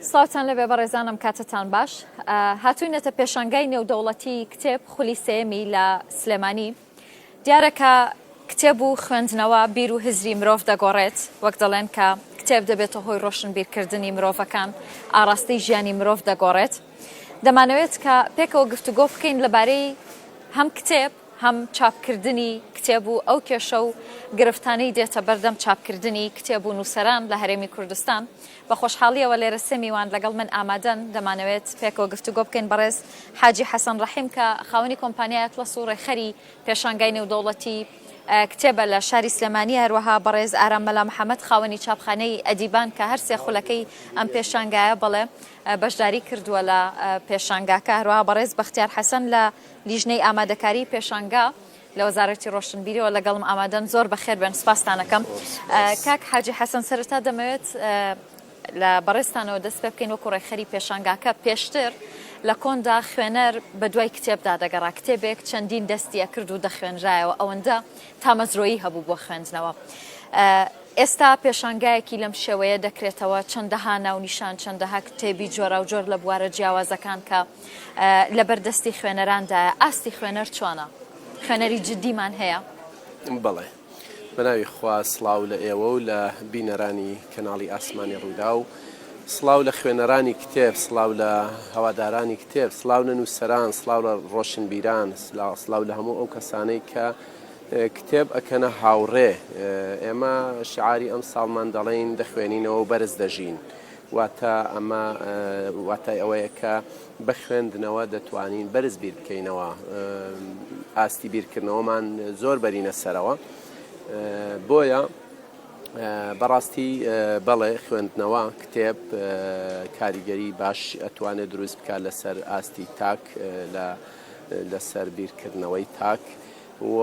سڵاوتان لەبێ بەڕێزانم کاتتان باش هاتوینەتە پێشانگای نێودەوڵەتی کتێب خولی سێمی لە سلێمانی دیارەکە کتێب و خوێندنەوە بیر و هزری مرۆڤ دەگۆڕێت وەک دەڵێن کە کتێب دەبێتە هۆی ڕۆشن بیرکردنی مرۆڤەکان ئاراستەی ژیانی مرۆڤ دەگۆڕێت دەمانەوێت کە پێکەوە گفتوگۆ بکەین لەبارەی هەم کتێب هەم چاپکردنی کتێب و ئەو کێشە و گرفتانەی دێتە بەردەم چاپکردنی کتێب و نووسەران لە هەرێمی کوردستان. بە خۆشحاڵییەوە لێرە سێ میوان لەگەڵ من ئامادەن، دەمانەوێت پێکەوە گفتوگۆ بکەین، بەڕێز حاجی حەسەن ڕەحیم کە خاوەنی کۆمپانیای ئەتڵەس و ڕێکخەری پێشانگای نێودەوڵەتی کتێبە لە شاری سلێمانی، هەروەها بەڕێز ئارام مەلا محەمەد خاوەنی چاپخانەی ئەدیبان کە هەر سێ خولەکەی ئەم پێشانگایە بەڵێ بەشداری کردووە لە پێشانگاکە، هەروەها بەڕێز بەختیار حەسەن لە لیژنەی ئامادەکاری پێشانگا لە وەزارەتی ڕۆشنبیریەوە لەگەڵم ئامادەن زۆر بەخێر بێن سپاستانەکەم کاک حاجی حەسەن سەرتا دەمەوێت لە بەڕێستانەوە دەست پێ بکەین وەکو ڕێکخەری پێشانگاکە پێشتر لە کۆندا خوێنەر بە دوای کتێبدا دەگەڕا کتێبێک چەندین دەستیە کرد و دەخوێنرایەوە ئەوەندە تامەزرۆیی هەبوو بۆ خوێندنەوە. ئێستا پێشانگایەکی لەم شێوەیە دەکرێتەوە چەندەها ناونیشان چەندەها کتێبی جۆراوجۆر لە بوارە جیاوازەکان کە لەبەر دەستی خوێنەراندایە، ئاستی خوێنەر چۆنە؟ خوێنەری جددیمان هەیە؟ بەڵێ. بەناوی خوا سڵاو لە ئێوە و لە بینەرانی کەناڵی ئاسمانی ڕووداو، سڵاو لە خوێنەرانی کتێب، سڵاو لە هەوادارانی کتێب، سڵاو لە نووسەران، سڵاو لە ڕۆشنبیران، سڵاو لە هەموو ئەو کەسانەی کە کتێب ئەکەنە هاوڕێ. ئێمە شیعاری ئەمساڵمان دەڵێین دەخوێنینەوە و بەرز دەژین. واتە ئەمە واتای ئەوەیە کە بە خوێندنەوە دەتوانین بەرز بیر بکەینەوە ئاستی بیرکردنەوەمان زۆر بەرینە سەرەوە بۆیە بەڕاستی بەڵێ خوێندنەوە کتێب کاریگەری باش ئەتوانێت دروست بکات لەسەر ئاستی تاک لە لەسەر بیرکردنەوەی تاک و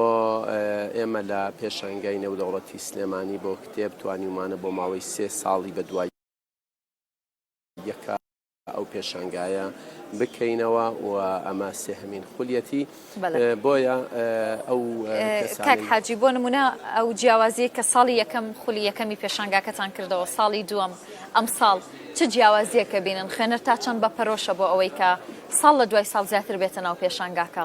ئێمە لە پێشانگای نێودەوڵەتی سلێمانی بۆ کتێب توانیومانە بۆ ماوەی سێ ساڵی بە دوای یەکا ئەو پێشانگایە بکەینەوە و ئەمە سێهمین خولیەتی بۆیە ئەو کاک حاجی بۆ نمونە ئەو جیاوازیە کە ساڵی یەکەم خولی یەکەمی پێشانگاکەتان کردەوە ساڵی دووەم ئەم ساڵ چ جیاوازیەکە بینن خوێنەر تا چەند بە پەرۆشە بۆ ئەوەی کە ساڵ لە دوای ساڵ زیاتر بێتە ناو پێشانگاکە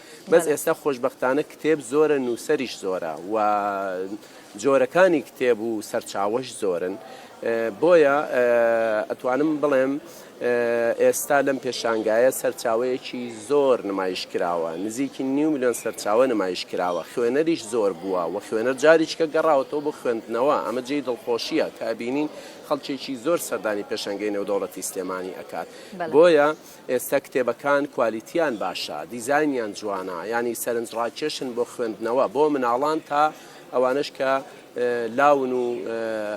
بەس ئێستا خۆشبەختانە کتێب زۆرە نووسەریش زۆرە و جۆرەکانی کتێب و سەرچاوەش زۆرن بۆیە ئەتوانم بڵێم ئێستا لەم پێشانگایە سەرچاوەیەکی زۆر نمایش کراوە نزیکی نیو میلیۆن سەرچاوە نمایش کراوە خوێنەریش زۆر بووە و خوێنەر جاریچکە گەڕاوەتەوە بۆ خوێندنەوە ئەمە جێی دڵخۆشیە کابینین خەڵکێکی زۆر سەردانی پێشنگەی نێودەوڵەتی سلێمانی ئەکات بۆیە ئێستە کتێبەکان کوالیتیان باشە دیزاینیان جوانە یانی سەرنج ڕاکێشن بۆ خوێندنەوە بۆ مناڵان تا ئەوانش کە لاون و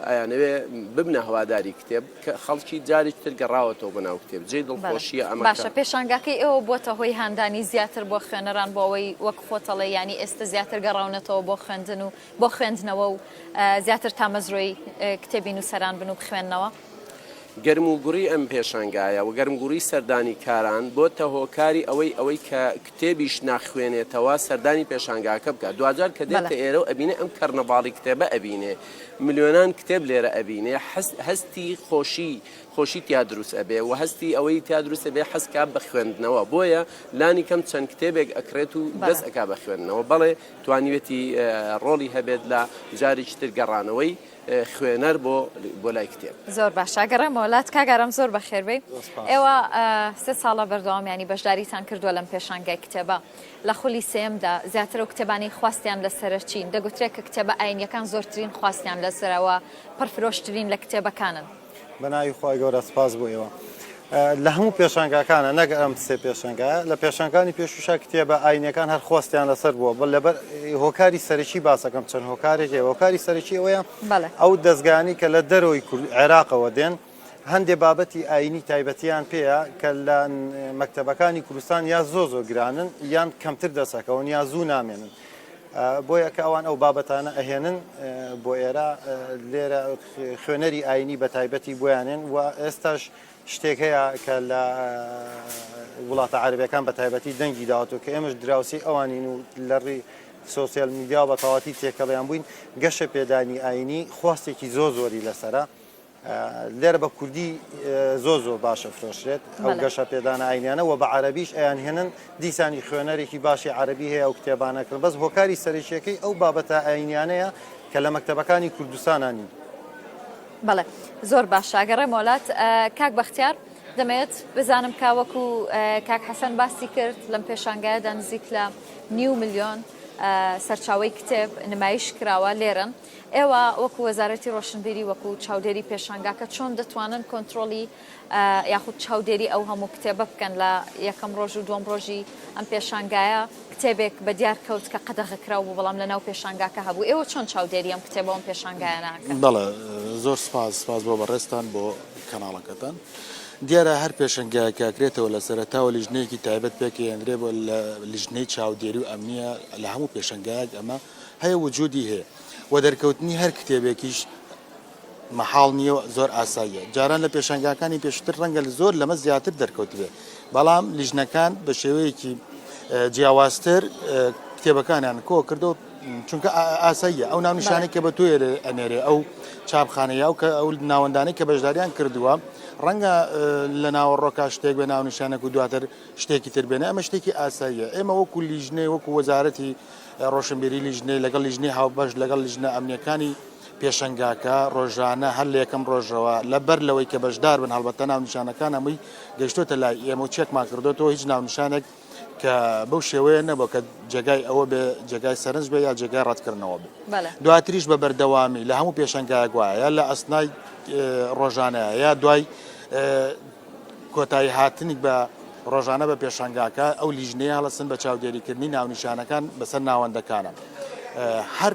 ئەیانەوێ ببنە هەواداری کتێب خەڵکی جاری تر گەڕاوەتەوە بە ناو کتێب جێ دڵخۆشیە ئەمە باشە پێشانگاکەی ئێوە بووە هۆی هاندانی زیاتر بۆ خوێنەران بۆ ئەوەی وەک خۆتەڵێ ینی ئێستا زیاتر گەڕاونەتەوە بۆ خوێندن و بۆ خوێندنەوە و زیاتر تامەزرۆی کتێبی نووسەران بن و بخوێندنەوە گەرموگوڕی ئەم پێشانگایە و گەرمگوڕی سەردانیکاران بۆتە هۆکاری ئەوەی ئەوەی کە کتێبیش ناخوێنێتەوە سەردانی پێشانگاکە بکات دواجار کە دێتە ئێرە و ئەبینێ ئەم کەرنەڤاڵی کتێبە ئەبینێ ملیۆنان کتێب لێرە ئەبینێ هەستی خۆشی خۆشی تیا دروست ئەبێ و هەستی ئەوەی تیا دروست ئەبێ حەزکا بە خوێندنەوە بۆیە لانی کەم چەند کتێبێک ئەکرێت و دەست ئەکا بە خوێندنەوە بەڵێ توانیوێتی ڕۆڵی هەبێت لە جارێکی تر گەڕانەوەی خوێنەر بۆ بۆ لای کتێب زۆر باشە گەڕێمەوە لات کاگەرم زۆر بەخێربێ ئێوە سێ ساڵە بەردەوامیانی بەشداریتان کردووە لەم پێشانگای کتێبە لە خولی سێمدا زیاتر و کتێبانی خواستیان لە سەرچین دەگوترێت کە کتێبە ئاینیەکان زۆرترین خواستیان لەسەرەوە پڕفرۆشترین لە کتێبەکانن بە ناوی خوای گەورە سپاس بۆ ئێوە. لە هەموو پێشانگاکانە نەک ئەم سێ پێشەنگە لە پێشەنگانی پێشوشا کتێبە ئاینەکان هەر خۆستیان لەسەر بووە بە لەبەر هۆکاری سەرەکی باسەکەم چەند هۆکارێک هۆکاری سەرەکی ئەوەیە ئەو دەستگانی کە لە دەرەوەی عێراقەوە دێن هەندێ بابەتی ئاینی تایبەتیان پێەیە کە لە مەکتتەبەکانی کوردستان یا زۆ زۆ گرانن یان کەمتر دەسەکەون یا زوو نامێنن بۆیە کە ئەوان ئەو بابەتانە ئەهێنن بۆ ئێرە لێرە خوێنەری ئاینی بەتایبەتی بۆیانێن و ئێستاش شتێک هەیە کە لە وڵاتە عربەکان بەتایبەتی دەنگی داوەتەوە کە ئێمەش دراوسی ئەوانین و لەڕی سوسیال میدیا بە تەواتی تێکەڵیان بووین گەشە پێدانی ئاینی خواستێکی زۆ زۆری لەسرە لێرە بە کوردی زۆ زۆر باشە فرۆشرێت ئەو گەشە پێدانە ئاینیانە و بە عربیش ئەیان هێنن دیسانی خوێنەرێکی باشی عەرەبی هەیە ئەو کتێبانە کڕن، بەس هۆکاری سەرەکییەکەی ئەو بابەتە ئایینییانەیە کە لە مەکتەبەکانی کوردستانا نین. بەڵێ زۆر باشە ئەگەڕێمەوە لات کاک بەختیار دەمەوێت بزانم کا وەکو کاک حەسەن باسی کرد لەم پێشانگایەدا نزیک لە نیو ملیۆن سەرچاوی کتێب نمایش کراوە لێرن ئێوە وەکو وەزارەتی ڕۆشنبیری وەکو چاودێری پێشانگاکە چۆن دەتوانن کۆنتترۆلی یاخود چاودێری ئەو هەموو کتێبە بکەن لە یەکەم ڕۆژ و دووەم ڕۆژی ئەم پێشانگایە کتێبێک بە دیار کەوت کە قەدەغە کراو بوو بەڵام لە ناو پێشانگاکە هەبوو ئێوە چۆن چاودێری ئەم کتێبە ئەم پێشانگایە ناکەن؟ بەڵێ زۆر سپاس سپاس بۆ بەڕێزتان بۆ کەناڵەکەتان دیارە هەر پێشنگایەک کاکرێتەوە لە سەرتاوە لیژنەیەکی تایبەت پێکەندرێ بۆ لە لیژنەی چاودێری و ئەمنیە لە هەموو پێشنگایەک ئەمە هەیە وجودی هەیە و دەرکەوتنی هەر کتێبێکیش مەحاڵ نییە و زۆر ئاساییە. جاران لە پێشانگاکانی پێشووتر ڕەنگە زۆر لەمە زیاتر دەرکەوتبێت، بەڵام لیژنەکان بە شێوەیەکی جیاوازتر کتێبەکانیان کۆ کردەوە، چونکە ئاساییە ئەو ناونیشانەی کە بە تۆێ ئەنێرێ ئەو چاپخانەیە و کە ئەو ناوەندانەی کە بەشداریان کردووە ڕەنگە لە ناوەڕۆکە شتێک بە ناونیشانەک و دواتر شتێکی تر بێنە ئەمە شتێکی ئاساییە ئێمە وەکو لیژنەی وەکو وەزارەتی ڕۆشنبیری لیژنەی لەگەڵ لیژنەی هاوبەش لەگەڵ لیژنە ئەمنیەکانی پێشەنگاکە ڕۆژانە هەر لە یەکەم ڕۆژەوە لە بەر لەوەی کە بەشدار بن هەڵبەتە ناونیشانەکان هەمووی گەشتۆتە لای ئێمە و چێکمان کردوێتەوە هیچ ناونیشانێک کە بەو شێوەیە نەبوو کە جێگای ئەوە بێ جێگای سەرنج بێ یا جێگای ڕەتکردنەوە بێ دواتریش بە بەردەوامی لە هەموو پێشنگای گوایە لە ئەسنای ڕۆژانەیە یا دوای کۆتایی هاتنی بە ڕۆژانە بە پێشنگاکە ئەو لیژنەیە هەڵسن بە چاودێریکردنی ناونیشانەکان بەسەر ناوەندەکانە هەر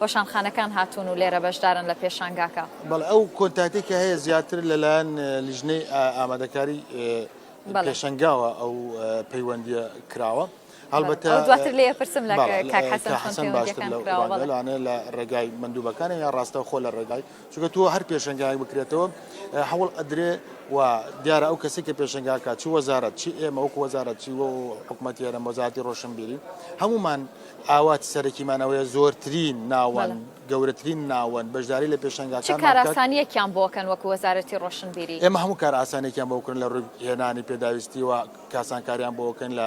وەشانخانەکان هاتوون و لێرە بەشدارن لە پێشانگاکە. بەڵێ ئەو کۆنتاکتەی کە هەیە زیاتر لەلایەن لیژنەی ئامادەکاری پێشەنگاوە ئەو پەیوەندیە کراوە. هەڵبەتە دواتر لێ پرسم لە کاک حەسەن چۆن حەسەن باشتر پێوەندیەکان لەو کراوە بەڵێ. ئەوانە لە ڕێگای مندوبەکانە یا ڕاستە خۆ لە ڕێگای چونکە تۆ هەر پێشەنگایەک بکرێتەوە هەوڵ ئەدرێ و دیارە ئەو کەسی کە پێشەنگاکە چی وەزارەت چی ئێمە وەکو وەزارەت چی و حکومەتی هەرێم وەزاتی ڕۆشنبیری هەمومان ئاواتی سەرەکیمان ئەوەیە زۆرترین ناوەند، بەڵێ. گەورەترین ناوەند بەشداری لە چ پێشانگاکانمان بکات. کارئاسانییەکیان بۆ بکەن وەکو وەزارەتی ڕۆشنبیری؟ ئێمە هەموو کارئاسانییەکیان بۆ بکەن لە ڕووی هێنانی پێداویستی و کاسانکاریان بۆ بکەن لە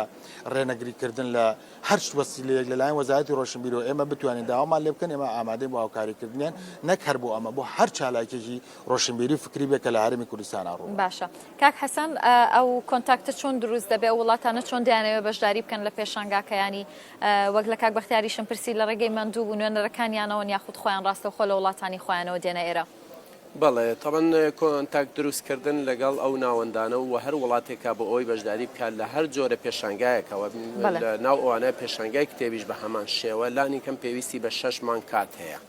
ڕێنەگریکردن لە هەر چ وەسیلەیەک لەلایەن وەزارەتی ڕۆشنبیریەوە ئێمە بتوانین داوامان لێ بکەن ئێمە ئامادەین بۆ هاوکاریکردنیان نەک هەر بۆ ئەمە بۆ هەر چالاکیەکی ڕۆشنبیری و فکری بێت کە لە هەرێمی کوردستانا ڕووبەڕوو باشە. کاک حەسەن ئەو کۆنتاکتە چۆن دروست دەبێ ئەو وڵاتانە چۆن دەیانەوێ بەشداری بکەن لە پێشانگاکەیانی وەک لە کاک بەختیاریشم پرسی لە ڕێگەی مەندوو بوو نوێنەرەکانیانەوەن یاخود خۆیان ڕاستەوخۆ لە وڵاتانی خۆیانەوە دێنە ئێرە؟ بەڵێ تەبەن کۆنتاکت دروستکردن لەگەڵ ئەو ناوەندانە و هەر وڵاتێکا بۆ ئەوەی بەشداری بکات لە هەر جۆرە پێشانگایەکەوە لە ناو ئەوانە پێشانگای کتێبیش بە هەمان شێوە لانی کەم پێویستی بە شەش مانگ کات هەیە.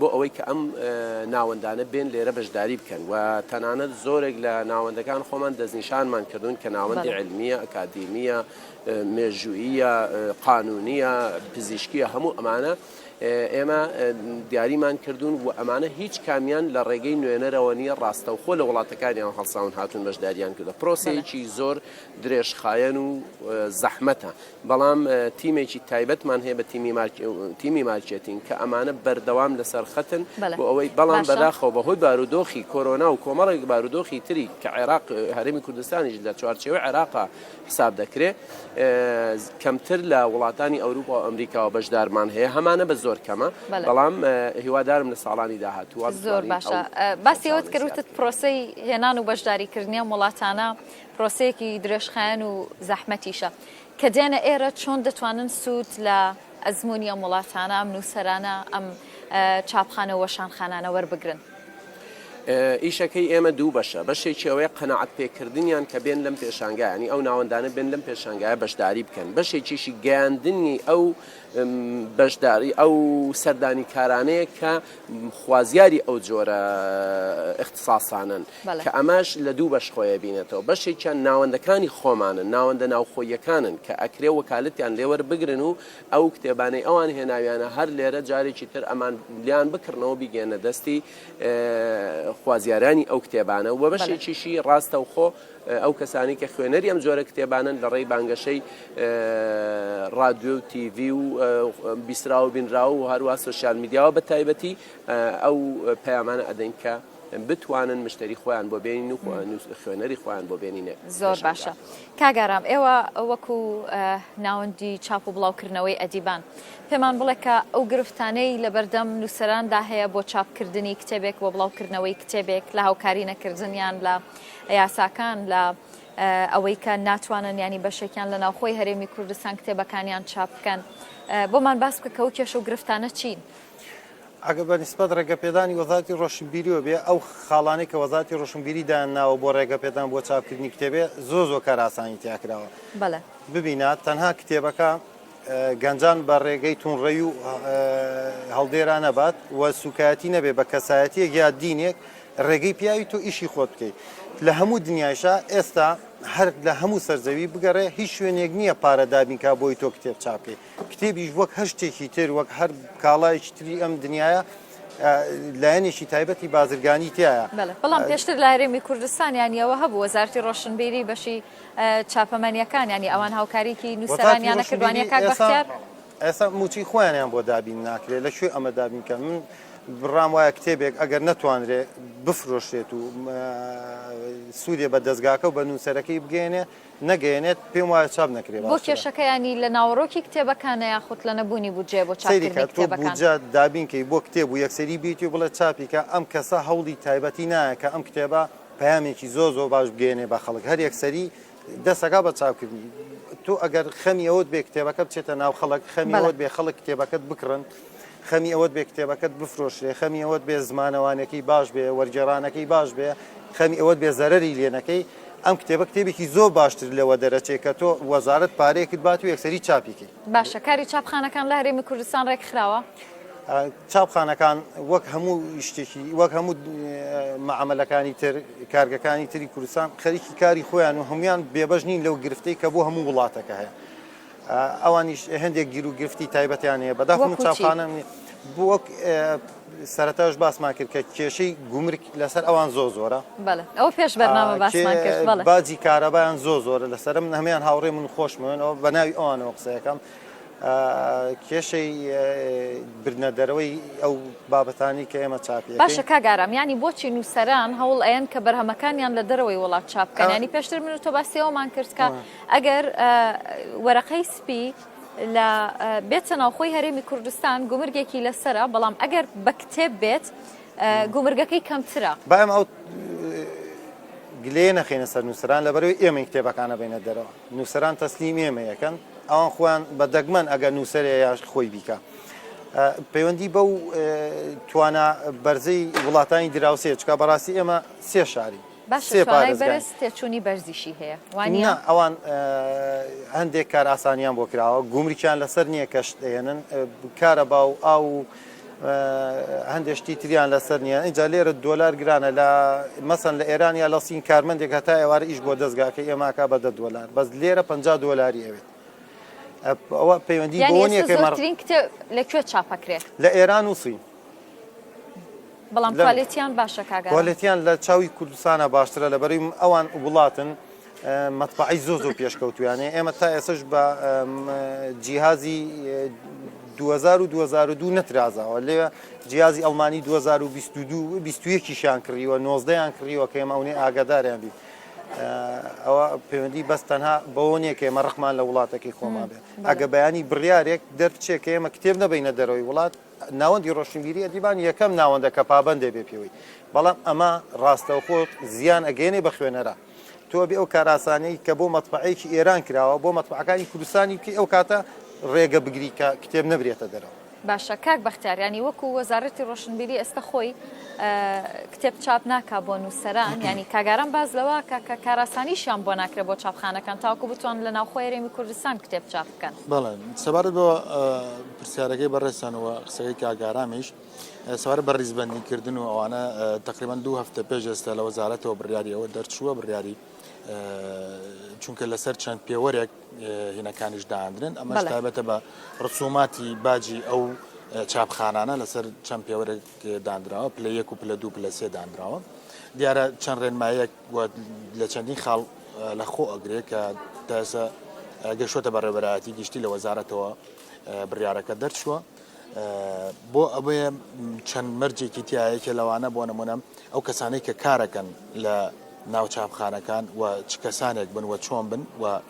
بۆ ئەوەی کە ئەم ناوەندانە بێن لێرە بەشداری بکەن و تەنانەت زۆرێک لە ناوەندەکان خۆمان دەستنیشانمان کردوون کە ناوەندی علمیە ئەکادیمیە مێژوویە قانونیە پزیشکیە هەموو ئەمانە ئێمە دیاریمان کردوون و ئەمانە هیچ کامیان لە ڕێگەی نوێنەرەوە نیە ڕاستەوخۆ لە وڵاتەکانیان هەڵساون هاتون بەشداریان کردە پرۆسەیەکی زۆر درێژخایەن و زەحمەتە بەڵام تیمێکی تایبەتمان هەیە بە تیمی مارکێتین کە ئەمانە بەردەوام لەسەر خەتن بۆ ئەوەی بەڵام بەداخەوە بەهۆی بارودۆخی کۆرۆنا و کۆمەڵێک بارودۆخی تری کە عێراق هەرمی کوردستانیش لە چوارچێوە عێراقا حساب دەکرێت کەمتر لە وڵاتانی ئەوروپا و ئەمریکاوە بەشدارمان هەیە هەمانە بە زۆر کەمە بەڵام هیوادارم لە ساڵانی داهاتوە زۆر باشە باسیەوەت کردوتت پرۆسی هێنان و بەشداریکردنیان وڵاتانە پرۆسەیەکی درێژخایەن و زەحمەتیشە کە دێنە ئێرە، چۆن دەتوانن سوود لە ئەزموونی ئەم وڵاتانە، ئەم نووسەرانە، ئەم چاپخانە و وەشانخانانە وەربگرن؟ ئیشەکەی ئێمە دوو بەشە، بەشێکی ئەوەیە قەناعەتپێکردنیان کە بێن لەم پێشانگایە، یانی ئەو ناوەندانە بێن لەم پێشانگایە بەشداری بکەن، بەشێکیشی گەیاندنی ئەو بەشداری ئەو سەردانیکارانەیە کە خوازیاری ئەو جۆرە اختصاسانن کە ئەماش لە دوو بەش خۆیە بینێتەوە بەشێکیان ناوەندەکانی خۆمانن ناوەندە ناوخۆیەکانن کە ئەکرێ وەکالتیان لێوەر بگرن و ئەو کتێبانەی ئەوان هێناویانە هەر لێرە جارێکی تر ئەمان لیان بکردنەوە بیگەێنە دەستی خوازیارانی ئەو کتێبانە و بەشێکیشی ڕاستەوخۆ ئەو کەسانەی کە خوێنەری ئەم جۆرە کتێبانەن لە ڕێی بانگەشەی ڕادیۆ و تی ڤی و بیسرا و بینراو و هەروە سوسیال میدیاوە بە تایبەتی ئەو پەیامانە ئەدەین کە بتوانن مشتری خۆیان بۆ بێنین و خوێنەری خۆیان بۆ بێنینێ زۆر باشە کاگارام ئێوە وەکو ناوەندی چاپ و بڵاوکردنەوەی ئەدیبان پێمان بڵێ کە ئەو گرفتانەی لە بەردەم نووسەراندا هەیە بۆ چاپکردنی کتێبێک بۆ بڵاوکردنەوەی کتێبێک لە هاوکاری نەکردنیان لە یاساکان لە ئەوەی کە ناتوانن ینی بەشێکیان لە ناوخۆی هەرێمی کوردستان کتێبەکانیان چاپ بکەن بۆمان باس بکە کە و کێش و گرفتانە چین ئەگە بە نسبەت ڕێگەپێدانی وەزاتی ڕۆشنبیریەوە بێ ئەو خاڵانەی کە وەزاتی ڕۆشنبیری دایان ناوە بۆ ڕێگەپێدان بۆ چاپکردنی کتێبێ زۆ زۆ کاراسانی تیاکراوە بەڵێ ببینە تەنها کتێبەکە گەنجان بە ڕێگەی توندڕەوی و هەڵدێرا نەبات و سوکایەتی نەبێ بە کەسایەتیەک یا دینێک ڕێگەی پیاوی تۆ ئیشی خۆت بکەیت لە هەموو دنیایشە ئێستا هەر لە هەموو سەرزەوی بگەڕێ هیچ شوێنێک نییە پارە دابینکە بۆی تۆ کتێب چاپی کتێبیش وەک هەر شتێکی تر وەک هەر کاڵایکی تری ئەم دنیاە لایەنێکی تایبەتی بازرگانی تایە بەڵام پێشتر لە هەرێمی کوردستانیانیەوە هەبوو وەزارتی ڕۆشنبیری بەشی چاپەمەنیەکان یانی ئەوان هاوکاریکی نوسەرانیان نەکرد وانیە کاک بەختیار؟ ئێستا موچەی خۆیانیان بۆ دابین ناکرێت لە کوێ ئەمە دابین کەن من بڕام وایە کتێبێک ئەگەر نەتوانرێت بفرۆشرێت و سوودێ بە دەستگاکە و بە نووسەرەکەی بگەێنێ نەگەێنێت پێم وایە چاپ نەکرێت بۆ کێشەکەیانی لە ناوەڕۆکی کتێبەکانە یاخود لە نەبوونی بودجێ بۆ چاپکردنجا دابینکەی بۆ کتێب و یەکسری بیتی و بڵێ چاپیکە ئەم کەسە هەوڵی تایبەتی نایە کە ئەم کتێبە پەیامێکی زۆر زۆر باش بگەیەنێ بە خەڵک هەر یەکسەری دەست ئەکا بە چاپکردنی تۆ ئەگەر خەمی ئەوەت بێ کتێبەکە بچێتە ناو خەڵک خەمی بەڵێ ئەوەت بێ خەڵک کتێبەکەت بکڕن خەمی ئەوەت بێ کتێبەکەت بفرۆشرێ خەمی ئەوەت بێ زمانەوانەکەی باش بێ وەرگێڕانەکەی باش بێ خەمی ئەوەت بێ زەرەری لێ نەکەی ئەم کتێبە کتێبێکی زۆر باشتر لەوە دەرەچێ کە تۆ وەزارەت پارەیەکت بات و یەکسەری چاپی کەی باشە کاری چاپخانەکان لە هەرێمی کوردستان ڕێکخراوە؟ چاپخانەکان وەک هەموو شتێکی وەک هەموو مەعاملەکانی تر کارگەکانی تری کوردستان خەریکی کاری خۆیان و هەمویان بێبەش نین لەو گرفتەی کە بۆ هەموو وڵاتەکە هەیە ئەوانیش هەندێک گیر و گرفتی تایبەتیان هەیە بەداخم چاپخانە وەک سەرەتاش باسمان کرد کە کێشەی گومرک لەسەر ئەوان زۆ زۆرە ئەو پێش بەرنامە باسمان کرد باجی کارەبایان زۆ زۆرە لەسرم نەمیان هاوڕێ من خۆشمەوێنەوە بە ناوی ئەوانەوە قسەکەم کێشەی برنە دەرەوەی ئەو بابەتانی کە ئێمە چاپی باشە کاگارام ینی بۆچی نووسەران هەوڵ ئەیەن کە بەرهەمەکانیان لە دەرەوەی وڵات چاپکەیانی پێشتر من و تۆ باسیەوەمان کردکە ئەگەر وەرەقەی سپی لە بێتە ناوخۆی هەرێمی کوردستان گومرگێکی لەسرە بەڵام ئەگەر بە کتێب بێت گومرگەکەی کەمترە بایم ئەو گلێ نەخینە سەر نووسران لەبەرەوەی ئێمەی کتێبەکانە بینە دەرەوە نووسران تەسلیم ئێمە یەکەن ئەوان خۆیان بە دەگمەن ئەگەر نووسەرێ یاش خۆی بیکە پەیوەندی بەو توانا بەرزەی وڵاتانی دراوسێ چکە بەڕاستی ئێمە سێ شاری باشە توانای بەرز تێچوونی بەرزیشی هەیە وانە؟ نا ئەوان هەندێک کار ئاسانیان بۆ کراوە گومرکیان لەسەر نییە کەشت دەێنن کارە باو ئاو و هەندێشتی تریان لەسەر نییە ئەجا لێرە دۆلار گرانە لە مەسن لە ئێران یا لە سین کارمەندێک هەتا ئێوارە ئیش بۆ دەستگاکە ئێماکە بە دە دۆلار بەس لێرە پ دۆلاری ئەوێت ئەوە پەیوەندی بۆنیەکەمەڕترین کتێب لەکوێ چاپەکرێت لە ئێران و سین بەڵام کوالێتیان باشە کاگا کوالێتیان لە چاوی کوردستانە باشترە لە بەری ئەوان وڵاتن مەتبعی زۆ زۆ پێشکەوتویانێ ئێمە تا ئێسش بە جیهازی 2022 نەترازاوە لێ جیازی ئەڵمانی 2022یان کڕیوە نۆزدەیان کڕیوە کە ئێمە ئەوێ ئاگاداریان بیت ئەوە پەیوەندی بەس تەنها بەوە نیە کە ئێمە ڕقمان لە وڵاتەکەی خۆمان بێت ئەگە بەیانی بڕارێک دەرچێت کە ئێمە کتێب نەبینە دەرەوەی وڵات ناوەندی ڕۆشنبیری ئەدیبان یەکەم ناوەندە کە پابەندە بێ پێوەی بەڵام ئەمە ڕاستەوخۆ زیان ئەگەێنێ بە خوێنەرە تۆ بێ ئەو کاراسانەی کە بۆ مەتبعەیەکی ئێران کراوە بۆ مەتبعەکانی کوردستانی بکەی ئەو کاتە ڕێگە بگری کە کتێب نەبرێتە دەرەوە باشە کاک بەختیاریانی وەکو وەزارەتی ڕۆشنبیری ئێستا خۆی کتێب چاپ ناکا بۆ نووسەران ینی کاگاران باز لەوە کە کە کاراسانیشیان بۆ ناکرێت بۆ چاپخانەکان تاکو بتوان لە ناوخۆێرێمی کوردستان کتێب چاپ بکەن. بەڵێ سەبارەت بە پرسیارەکەی بەڕێزتان و قسەکەی کاک ئارامیش، سەبارەت بە ڕیزبەندیکردن و ئەوانە تقریبا دوو هەفتە پێش ئێستا لە وەزارەتەوە بڕیاری ئەوە دەرچووە بڕیاری چونکە لەسەر چەند پێوەرێک هینەکانیش داندرێن ئەمە تابەتە بە ڕسوماتی باجی ئەو چاپخانانە لەسەر چەند پێوەرێک دانراوە پلە یەک و پلە دوو پلە سێ دانراوە دیارە چەند ڕێنمایەک و لە چەندین خاڵ لە خۆ ئەگرێ کە تا ئێستا گەشتوەتە بەڕێوەبەرایەتی گشتی لە وەزارەتەوە بڕیارەکە دەرچووە بۆ ئەوەیە چەند مەرجێکی تایەکە لەوانە بۆ نمونەم ئەو کەسانەی کە کارەکەن لە ناو چاپخانەکان و چ کەسانێک بن و چۆن بن و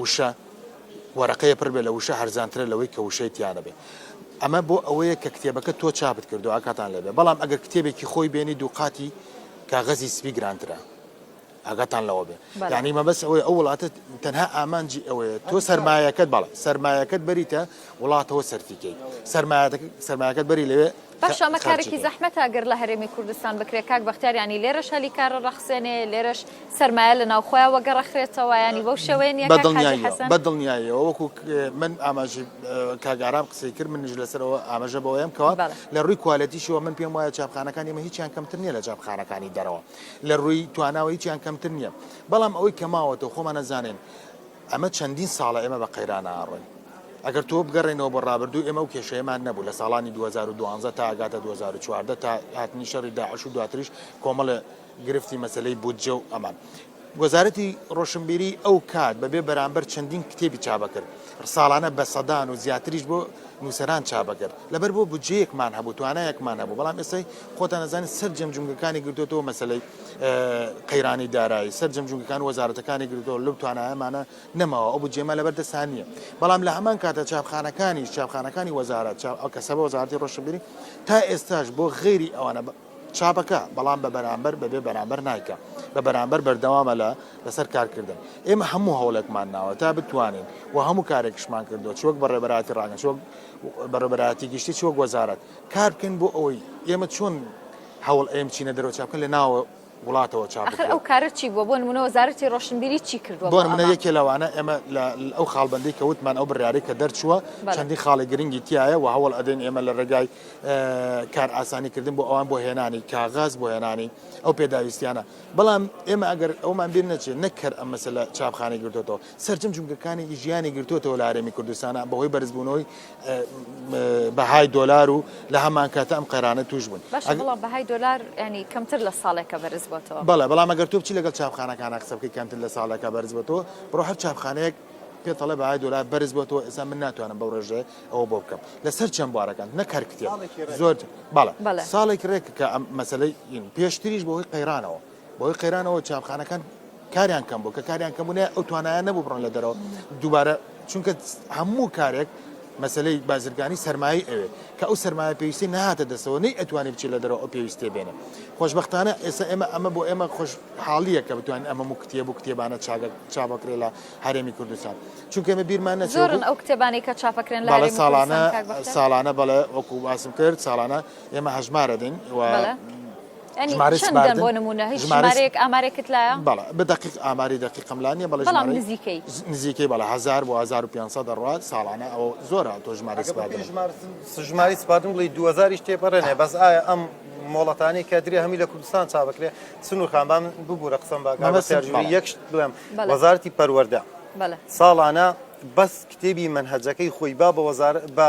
وشە وەرەقەیە پڕ بێت لە وشە هەرزانترە لەوەی کە وشەی تیا نەبێت ئەمە بۆ ئەوەیە کە کتێبەکە تۆ چاپت کردو ئاکاتان لێبێ بەڵام ئەگەر کتێبێکی خۆی بێنی دووقاتی کاغەزی سپی گرانترە ئاگاتان لەوە بێ یعنی مەبەس ئەوەی ئەو وڵاتە تەنها ئامانجی ئەوەیە تۆ سەرمایەکەت بەڵێ سەرمایەکەت بەریتە وڵاتەوە سەرفیکەیت سەرمایەکەت بەری لەوێ باشە ئەمە کارێکی زەحمەتە گەر لە هەرێمی کوردستان بکرێت کاک بەختیار ینی لێرەش هەلی کارە ڕەخسێنێ لێرەش سرمایە لە ناوخۆیان وەگەڕەخرێتەوە ینی بەو شێوەیە نیە بە دڵنیاییەوە وەکو من ئاماژی کاگارام قسەی کرد منش لەسەرەوە ئاماژە بەوەیەم کەەوە لە ڕووی کوالەتیشەوە من پێم وایە چاپخانەکان ئمە هیچیان کەمتر نیە لە چاپخانەکانی دەرەوە لە ڕووی تواناوە هیچیان کەمتر نییە بەڵام ئەوەی کەماوەتەوە خۆمانە زانین ئەمە چەندین ساڵە ئێمە بە قەیرانە ئاڕۆین. ئەگەر تۆ بگەڕێینەوە بۆ ڕابردوو ئێمە ئەو کێشەیەمان نەبوو لە ساڵانی دوو هەزار و دوازدە تا ئەگاتە دوو هەزار و چواردە تا هاتنی شەڕی داعش و دواتریش کۆمەڵێ گرفتی مەسەلەی بودجە و ئەمان. وەزارەتی ڕۆشنبیری ئەو کات بەبێ بەرامبەر چەندین کتێبی چابەکرد. ساڵانە بە سەدان و زیاتریش بۆ نووسەران چابەکرد. لەبەر بۆ بودجەیەکمان هەبوو، توانایەکمان هەبوو. بەڵام ئێستای خۆتان ئەزانن سەرجەم جومگەکانی گرتۆتەوە مەسەلەی. قەیرانی دارایی سەرجەم جونگەکان وەزارەتەکانی گرتەوە لەو توانایەمانە نەماوە ئەو بجێمە لەبەر دەستان نییە بەڵام لە هەمان کاتە چاپخانەکانی چاپخانەکانی وەزارەت ئەو کەسە بە وەزارتی ڕۆشنبیری تا ئێستاش بۆ غێری ئەوانە چاپەکە بەڵام بە بەرامبەر بەبێ بەرامبەر نایکە بە بەرامبەر بەردەوامە لە لەسەر کارکردن ئێمە هەموو هەوڵێکمان ناوە تا بتوانین و هەموو کارێکشمان کردو چۆک بە ڕێبەراتی ڕاگەن چۆک بەڕێبەراتی گشتی چۆک وەزارەت کار بکەین بۆ ئەوەی ئێمە چۆن هەوڵ ئەم چینە دەرەوە چاپ بکەن لە ناوە وڵاتەوە چاپ ئەخر بکرێت ئەو کارە چی بووە بۆ نمونە وەزارەتی ڕۆشنبیری چی کردووە بۆ بۆ منە ئەمە یەکێ لەوانە ئێمە لە ئەو خاڵبندی کە وتمان ئەو بڕیارەی کە دەرچووە بەڵێ. چەندی خاڵی گرنگی تایە و هەوڵ ئەدەین ئێمە لە ڕێگای اه، کار ئاسانی کردن بۆ ئەوان بۆ هێنانی کاغەز بۆ هێنانی ئەو پێداویستیانە بەڵام ئێمە ئەگەر ئەومان بیر نەچێت نەک کەر ئەم مەسەلە چاپخانەی گرتوتەوە سەرجەم جومگەکانی ژیانی گرتۆتەوە لە هەرێمی کوردستانا بەهۆی بەرزبوونەوەی بەهای دۆلار و لە هەمانکاتە ئەم قەرانە توش بوون بەهای دۆلار ینی کەمتر لە ساڵێکە بەرز بۆتەوە بەڵێ بەڵام ئەگەر توپچی لەگەڵ چاپخانەکانە قسە بکەی کەمتر لە ساڵێکە بەرز بۆتەوە بڕۆ هەر چاپخانەیەک پێتەڵە بەهای دۆلار بەرز بۆتەوە ئێستا من ناتوانم بەو ڕێژێ ئەوە بۆ بکەم لەسەر چەند بوارەکان نەکار کتێ زۆر بەڵێ ساڵێک ڕێککە ئەم مەسلەی پێشتریش بەهۆی قەیرانەوە بەهۆی قەیرانەوە چیاخانەکان کاریان کەم بوو کە کاریان کەم بوونە ئەو توانایان نەبوو بڕۆن لە دەرەوە دووبارە چونکە هەموو کارێک مەسلەی بازرگانی سەرمایی ئەوێ کە ئەو سەرمایە پێویستی نهاتە دەسەوە نەی ئەتوانی بچی لە دەرەوە ئەو پێویستێ بێنە خۆشببختانە ئێستا ئێمە ئەمە بۆ ئێمە خۆش حاڵیە کە بتوان ئەمە و کتێب و کتێبانە چاگە چاپەکرێ لە هەرێمی کوردستان چونکە ئمە بیرمان نەزۆرن ئەو کتێبانی کە چاپەکرێن لە ساڵانە ساڵانە بەڵێ وەکو باسم کرد ساڵانە ئێمە هەژمارە دەین ژمارەی چەندە سپاردن بۆ نموونە هیچ ژمارەی ژمارەیەک ئامارێکت لایە؟ بەڵێ بە دەقیق ئاماری دەقیقم لا نییە بەڵێ بەڵام ژمارەی نزیکەی ز- نزیکەی بەڵێ هەزار بۆ هەزار و پێنج سەد دەڕوات ساڵانە ئەوە زۆرە تۆ ژمارەی ئەگەر بە پێی سپاردنت ژمار ژمارەی سپاردن بڵێی دوو هەزاریش تێپەڕێنێ بەس ئایا ئەم مۆڵەتانەی کە درێ هەمووی لە کوردستان چا بکرێ سنوور خان با من ببوورە قسەم بە کاک مەبەستم بەختیار جووری بەڵێ یەک شت بڵێم بەڵێ وەزارەتی پەروەردە بەڵێ ساڵانە بەس کتێبی مەنهەجەکەی خۆی با بە وەزار بە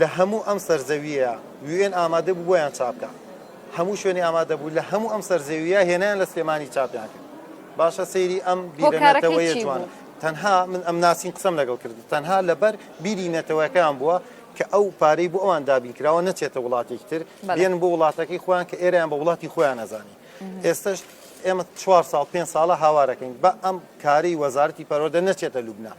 لە هەموو ئەم سەر زەوییە یو ئێن ئامادە بوو بۆیان چاپ بکا هەموو شوێنی ئامادە بوو لە هەموو ئەم سەر زەوییە هێنایان لە سلێمانی چاپیان کرد باشە سەیری ئەم بیرە نەتەوەیە جوانە تەنها من ئەم ناسین قسەم لەگەڵ کرد تەنها لەبەر بیری نەتەوەکەیان بووە کە ئەو پارەی بۆ ئەوان دابین کراوە نەچێتە وڵاتێکی تر بێن بۆ وڵاتەکەی خۆیان کە ئێرەیان بە وڵاتی خۆیان نەزانی ئێستش ئێمە چوار ساڵ پێ ساڵە هاوارەکەین بە ئەم کاری وەزارەتی پەرۆدە نەچێتە لوبناان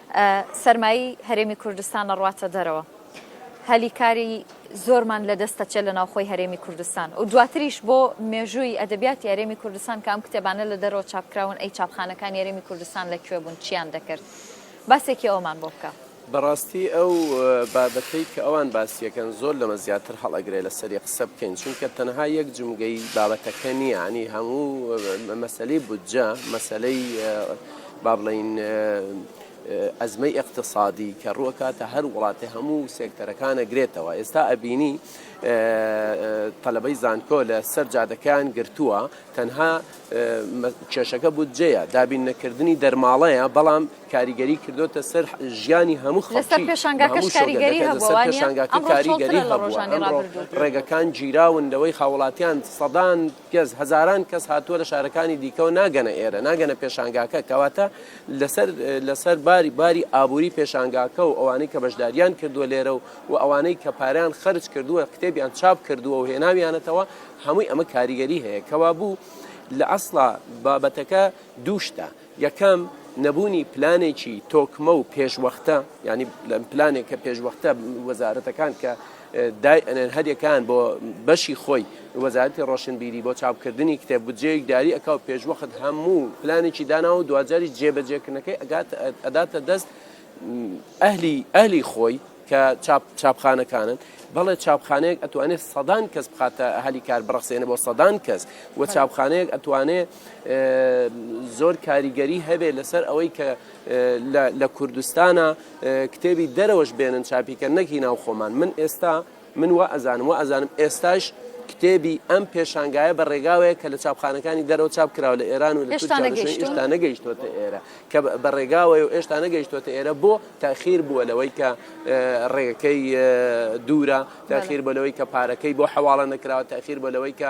سەرمایەی هەرێمی کوردستان ئەڕواتە دەرەوە، هەلی کاری زۆرمان لەدەست ئەچێت لە ناوخۆی هەرێمی کوردستان و دواتریش بۆ مێژووی ئەدەبیاتی هەرێمی کوردستان کە ئەم کتێبانە لە دەرەوە چاپکراون ئەی چاپخانەکانی هەرێمی کوردستان لە کوێ بوون چییان دەکرد باسێکی ئەوەمان بۆ بکە. بەڕاستی ئەو بابەتەی کە ئەوان باسی ئەکەن زۆر لەمە زیاتر هەڵئەگرێ لەسەری قسە بکەین چونکە تەنها یەک جومگەی بابەتەکە نییە یانی هەموو مەسەلەی بودجە مەسەلەی با بڵێین ئەزمەی ئیقتسادی کە ڕووەکاتە هەر وڵاتێ هەموو سێکتەرەکانە گرێتەوە ئێستا ئەبینی تەلەبەی زانکۆ لە سەر جادەکەیان گرتووە تەنها کێشەکە بودجەیە دابین نەکردنی دەرماڵەیە بەڵام کاریگەری کردوتە سەر ژیانی هەموو خەڵکی کاریگەری هەبووە ڕێگەکان گیراون لەوەی هاوڵاتیان سەدان کەس، هەزاران کەس هاتووە لە شارەکانی دیکەوە ناگەنە ئێرە، ناگەنە پێشانگاکە، کەواتە لەسەر لەسەر باری باری ئابووری پێشانگاکە و ئەوانەی کە بەشداریان کردووە لێرە و و ئەوانەی کە پاریان خەرج کردووە کتێبیان چاپ کردووە و هێناویانەتەوە هەمووی ئەمە کاریگەری هەیە کەوابوو لە ئەسڵا بابەتەکە دووشتە یەکەم، نەبوونی پلانێکی تۆکمە و پێشوەختە، یانی پلانێک کە پێشوەختە وەزارەتەکان کە دای ئەنێن هەریەکان بۆ بەشی خۆی وەزارەتی ڕۆشنبیری بۆ چاپکردنی کتێب بودجەیەک دیاری ئەکا و پێشوەخت هەموو پلانێکی دانا و دواجاریش جێبەجێکردنەکەی ئەگات ئەداتە دەست ئەهلی ئەهلی خۆی کە چاپ چاپخانەکانن بەڵێ چاپخانەیەک ئەتوانێت سەدان کەس بخاتە هەلی کار بڕەخسێنە بۆ سەدان کەس و چاپخانەیەک ئەتوانێت زۆر کاریگەری هەبێت لەسەر ئەوەی کە لە کوردستانە کتێبی دەرەوەش بێنن چاپیکە نەکی ناو خۆمان من ئێستا من وە ئەزانم وە ئەزانم ئێستاش کتێبی ئەم پێشانگایە بە ڕێگاوەیە کە لە چاپخانەکانی دەرەوە چاپ کراوە لە ئێران و لە ئێشتا نەگەیشتوتە ئێرە کە بە ڕێگاوەی و ئێشتا نەگەیشتوتە ئێرە بۆ تاخیر بووە لەوەی کە ڕێگەکەی دوورە تاخیر بۆ لەوەی کە پارەکەی بۆ حواڵە نەکراوە تاخیر بۆ لەوەی کە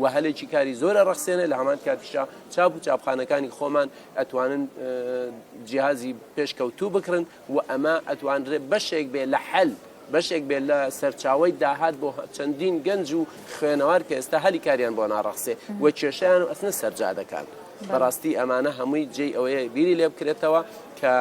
و هەلێکی کاری زۆر ئەڕەخسێنێ لە هەمان کاتیشا چاپ و چاپخانەکانی خۆمان ئەتوانن جیازی پێشکەوتوو بکرن و ئەمە ئەتوانرێ بەشێک بێ لە حەل بەشێک بێت لە سەرچاوی داهات بۆ چەندین گەنج و خوێنەوار کە ئێستا هەلی کاریان بۆ ناڕەخسێ و کێشیان و ئەسنە سەرجادەکان. بەڕاستی ئەمانە هەمووی جێ ئەوەیە بیری لێ بکرێتەوە کە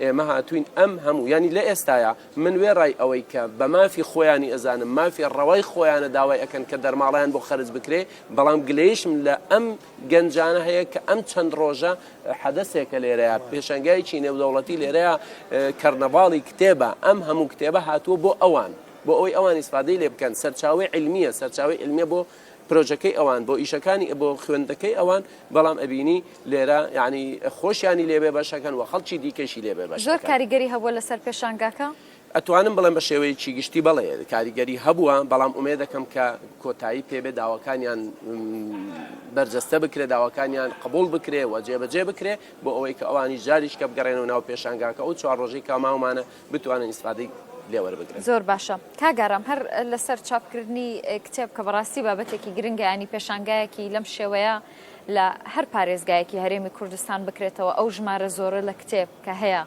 ئێمە هاتوین ئەم هەموو ینی لە ئێستاە من وێڕای ئەوەی کە بە مافی خۆیانی ئەزانم مافی ڕەوای خۆیانە داوای ئەکەن کە دەرماڵەیان بۆ خەرج بکرێ بەڵام گلەیشم لە ئەم گەنجانە هەیە کە ئەم چەند ڕۆژە حەدەسێکە لێرەیە پێشەنگایەکی نێودەوڵەتی لێرەیە کەرنەڤاڵی کتێبە ئەم هەموو کتێبە هاتووە بۆ ئەوان بۆ ئەوەی ئەوان ئیسفادەی لێ بکەن سەرچاوەی علمیە سەرچاوەی علمیە بۆ پرۆژەکەی ئەوان بۆ ئیشەکانی بۆ خوێندەکەی ئەوان بەڵام ئەبینی لێرە یعنی خۆشیانی لێبێ بەشەکەن و خەڵکی دیکەشی لێبێ بەش زۆر کاریگەری هەبووە لەسەر پێشانگاکە؟ ئەتوانم بڵێم بە شێوەیەکی گشتی بەڵێ کاریگەری هەبووە بەڵام ئومێ دەکەم کە کۆتایی پێبێ داواکانیان بەرجەستە بکرێ داواکانیان قبول بکرێ و جێبەجێ بکرێ بۆ ئەوەی کە ئەوانی جاریش کە بگەڕێنەوە ناو پێشانگاکە ئەو چوار ڕۆژەی کاماومانە بتوانن ئیسفادەی لێ وەربگرن زۆر باشە کاگارام هەر لەسەر چاپکردنی کتێب کە بەڕاستی بابەتێکی گرنگیانی پێشانگایەکی لەم شێوەیە لە هەر پارێزگایەکی هەرێمی کوردستان بکرێتەوە ئەو ژمارە زۆرە لە کتێب کە هەیە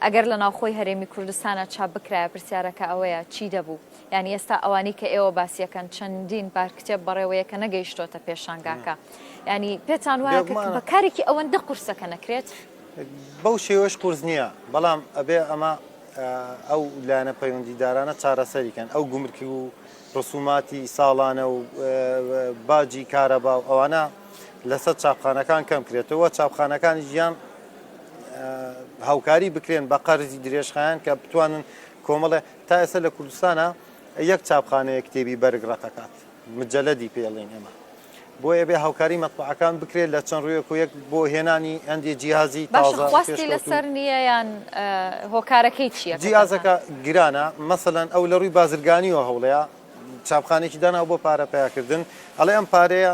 ئەگەر لە ناوخۆی هەرێمی کوردستانە چاپ بکرایە پرسیارەکە ئەوەیە چی دەبوو یعنی ئێستا ئەوانی کە ئێوە باسیەکەن چەندین بار کتێب بەڕێوەیە کە نەگەیشتۆتە پێشانگاکە ینی پێتان وایە بەکارێکی ئەوەندە قورسەکە نەکرێت بەو شێوەش قورس نییە، بەڵام ئەبێ ئەمە ئەو لایەنە پەیوەندیدارانە چارەسەری کەن، ئەو گومرکی و ڕسوماتی ساڵانە و باجی کارەبا و ئەوانە لەسەر چاپخانەکان کەم کرێتەوە، چاپخانەکانی ژیان هاوکاری بکرێن بە قەرزی درێژخایەن کە بتوانن کۆمەڵێ تا ئێستا لە کوردستانە یەک چاپخانەیە کتێبی بەرگ ڕەقەکات. مجەلەدی پێ ئەڵێین ئێمە. بۆیە ئەبێ هاوکاری مەتبەعەکان بکرێت لە چەند ڕوویەک و یەک بۆ هێنانی هەندێ جیهازی تازە باشە خواستی لەسەر نییە یان هۆکارەکەی چییە؟ جیهازەکە گرانە، مەسەلەن ئەو لە ڕووی بازرگانیەوە هەوڵەیە چاپخانێکی داناوە بۆ پارە پەیاکردن، ئەڵێ ئەم پارەیە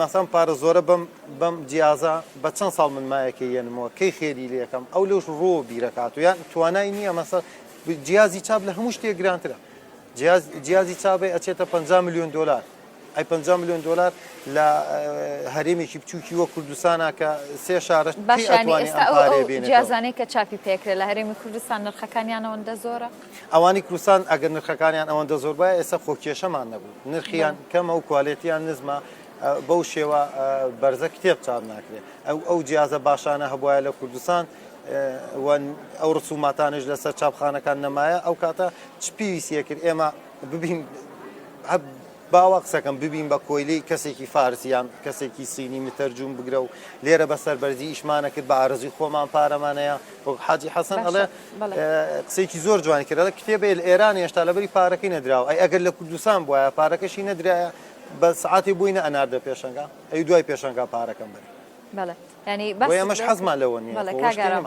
مەسەن پارە زۆرە بەم بەم جیازە بە چەند ساڵ من مایەکە یەنمەوە کەی خێری لێ یەکەم ئەو لەوش ڕۆ بیرەکات و یان توانای نییە مەسە جیازی چاپ لە هەموو شتێک گرانترە. جیاز جیازی چاڤێ ئەچێتە پەنجا ملیۆن دۆلار. ئەی پەنجا ملیۆن دۆلار لە هەرێمێکی بچووکی وە کوردستانە کە سێ شارەش کی باشە یانی ئەتوانێ ئێستا ئەم ئەو پارەیە ئەو بێنێتەوە. جیازانەی کە چاپی پێکرێ لە هەرێمی کوردستان نرخەکانیان ئەوەندە زۆرە؟ ئەوانی کوردستان ئەگەر نرخەکانیان ئەوەندە زۆر بایە ئێستا خۆ کێشەمان نەبوو. نرخیان بەڵێ. کەمە و کوالێتییان نزمە. ئە، بەو شێوە ئە، بەرزە کتێب چاپ ناکرێ. ئەو ئەو جیازە باشانە هەبوایە لە کوردستان، و ئەو ڕسوماتانش لەسەر چاپخانەکان نەمایە ئەو کاتە چ پێویستە کرد ئێمە ببین باوا قسەکەم ببین بە کۆیلی کەسێکی فارسیان کەسێکی سینی متەرجوم بگرە و لێرە بە سەربەرزی ئیشمانە کرد بە ئارزی خۆمان پارەمانەیە وەک حاجی حەسەن ئەڵێ قسێکی زۆر جوان کرد کتێبێ ئێران هێشتا لەبری پارەکەی نەدراوە ئەی ئەگەر لە کوردستان بواە پارەکەشی نەدرایە بە سعاتی بووینە ئەناردە پێشەنگا ئەی دوای پێشەنگا پارەکەم بەر بەڵێ بۆیە ئێمەش حەزمان لەوە نییە. بەڵێ کاگارم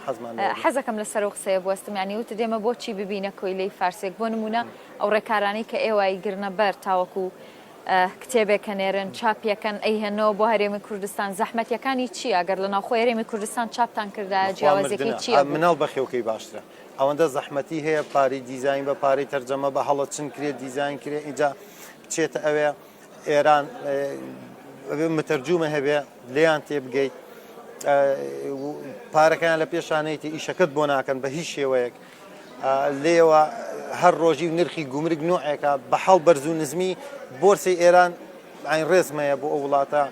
حەزەکەم لەسەر ئەو قسەیە بوەستم یانی وتت ئێمە بۆچی ببینە کۆیلەی فارسێک بۆ نموونە ئەو ڕێکارانەی کە ئێوە ئەیگرنە بەر تاوەکو کتێبێک ئەنێرن چاپی ئەکەن ئەیهێنەوە بۆ هەرێمی کوردستان زەحمەتییەکانی چییە گەر لە ناوخۆی هەرێمی کوردستان چاپتان کردایە جیاوازیەکەی چییە بوو؟ مناڵ بەخێوکەی باشترە ئەوەندە زەحمەتی هەیە پارەی دیزاین بە پارەی تەرجەمە بە هەڵە چن کرێت دیزاین کرێ ئیجا بچێتە ئەوێ ئێران متەرجوومە هەبێ لێیان تێبگەیت پارەکەیان لە پێشانەیتی ئیشەکەت بۆ ناکەن بە هیچ شێوەیەک لێەوە هەر ڕۆژی و نرخی گومرگ نوعێکە بە حاڵ بەرز و نزمی بۆرسی ئێران ئاین ڕێزمەیە بۆ ئەو وڵاتە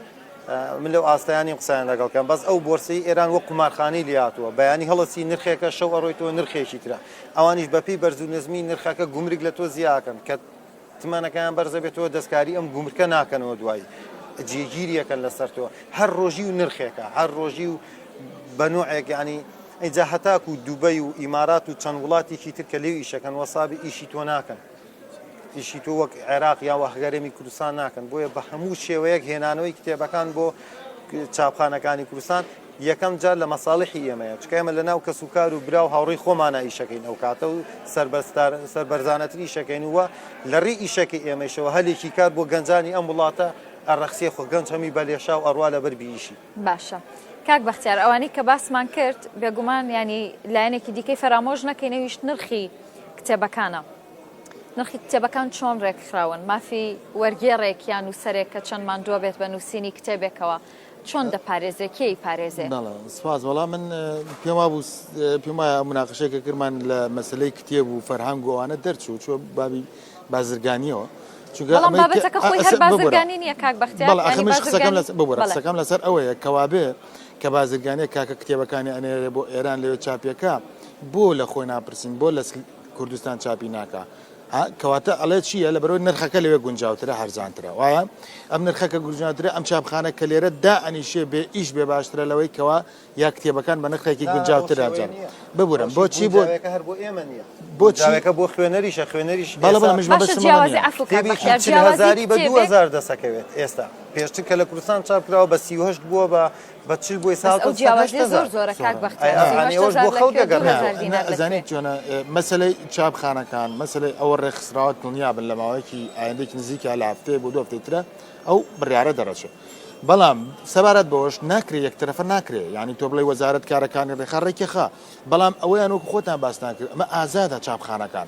من لەو ئاستایانی قسەیان لەگەڵکەم بەس ئەو بۆرسی ئێران وە قومارخانی لاتوە بەیانی هەڵەسی نرخێکە شەو ئەڕۆیتەوە نرخێکی تررا ئەوانیش بەپی بەرز و نزمی نرخەکە گومرگ لە تۆ زیاکەن کە تمەنەکەیان بەرز دەبێتەوە دەستکاری ئەم گومرکە ناکەنەوە دوای جێگیری یەکەن لەسەر تۆ هەر ڕۆژی و نرخێکە هەر ڕۆژی و بە نوعێک ینی ئەجا هەتاکو و دوبەی و ئیمارات و چەند وڵاتێکی تر کە لێو ئیشەکەن وەسابی ئیشی تۆ ناکەن ئیشی تۆ وەک عێراق یا وەهگەرێمی کوردستان ناکەن بۆیە بە هەموو شێوەیەک هێنانەوەی کتێبەکان بۆ چاپخانەکانی کوردستان یەکەم جار لە مەساڵیحی ئێمەیە چکە ئێمە لە ناو کەس و کار و برا و هاوڕێی خۆمانە ئیشەکەین ئەو کاتە و سەربەستار سەربەرزانەتر ئیشەکەین وە لە ڕێی ئیشەکەی ئێمەیشەوە هەلێکی کار بۆ گەنجانی ئەم وڵاتە ئەڕەخسێ خۆ گەنج هەمی بە لێشاو ئەڕوا لە بەر بیشی. باشە کاک بەختیار ئەوانەی کە باسمان کرد بێگومان ینی لایەنێکی دیکەی فەرامۆش نەکەین ئەویش نرخی کتێبەکانە نرخی کتێبەکان چۆن ڕێکخراون مافی وەرگێڕێک یان نووسەرێک کە چەند ماندووە بێت بە نووسینی کتێبێکەوە چۆن دەپارێزێ کێ ی پارێزێ؟ بەڵێ سپاس وەڵا من پێم وابوو پێم وایە مناقشەی کە کرمان لە مەسلەی کتێب و فەرهەنگ و ئەوانە دەرچوو چۆ بابی بازرگانیەوە چونکە بەڵام ئەمەی کە- بابەتەکە خۆی هەر ئەسە- ببورە. بازرگانی نییە کاک بەختیار بەڵێ یعنی ئەخمش قسەکەم بازرگانی- لەس ببورە بەڵێ. قسەکەم لەسەر ئەوەیە کەوابێ کە بازرگانیە کاکە کتێبەکانی ئەنێرێ بۆ ئێران لەوێ چاپیەکا بۆ لە خۆی ناپرسین بۆ لەس کوردستان چاپی ناکا ها کەواتە ئەڵێ چییە لە بەرەوەی نرخەکە لەوێ گونجاوترە هەرزانترە وایە ئەم نرخەکە گونجاترە ئەم چاپخانە کە لێرە دا ئەنیشێ بێ ئیش بێ باشترە لەوەی کەوا یا کتێبەکان بە نرخێکی گونجاوتر ئەنجام ببورم بۆچی بۆ هەر بۆ ئێمە نیە بۆ چاوێکە بۆ خوێنەریشە خوێنەریش بەڵێزاری بە 2000 دەسەکەوێت ئێستا پێشتر کە لە کوردستان چاپ کراوە بە 38 بووە بە بە چی بۆی ساڵ ئەو جیاوازی زۆر زۆرە کاک بەختیار ئەزانیت چۆنە مەسلەی چاپخانەکان مەسلەی ئەوە ڕێکخراوە دڵنیا بن لە ماوەیەکی ئایندێکی نزیکە لە هەفتەیە بۆ دو هەفتەی ترە ئەو بڕارە دەڕەچێت بەڵام سەبارەت بەوەش ناکرێت یەکترەفە ناکرێ ینی تۆ بڵی وەزارت کارەکانی ڕێخا ڕێکیخا بەڵام ئەوەیان وەکو خۆتان باستان کرد ئەمە ئازادە چاپخانەکان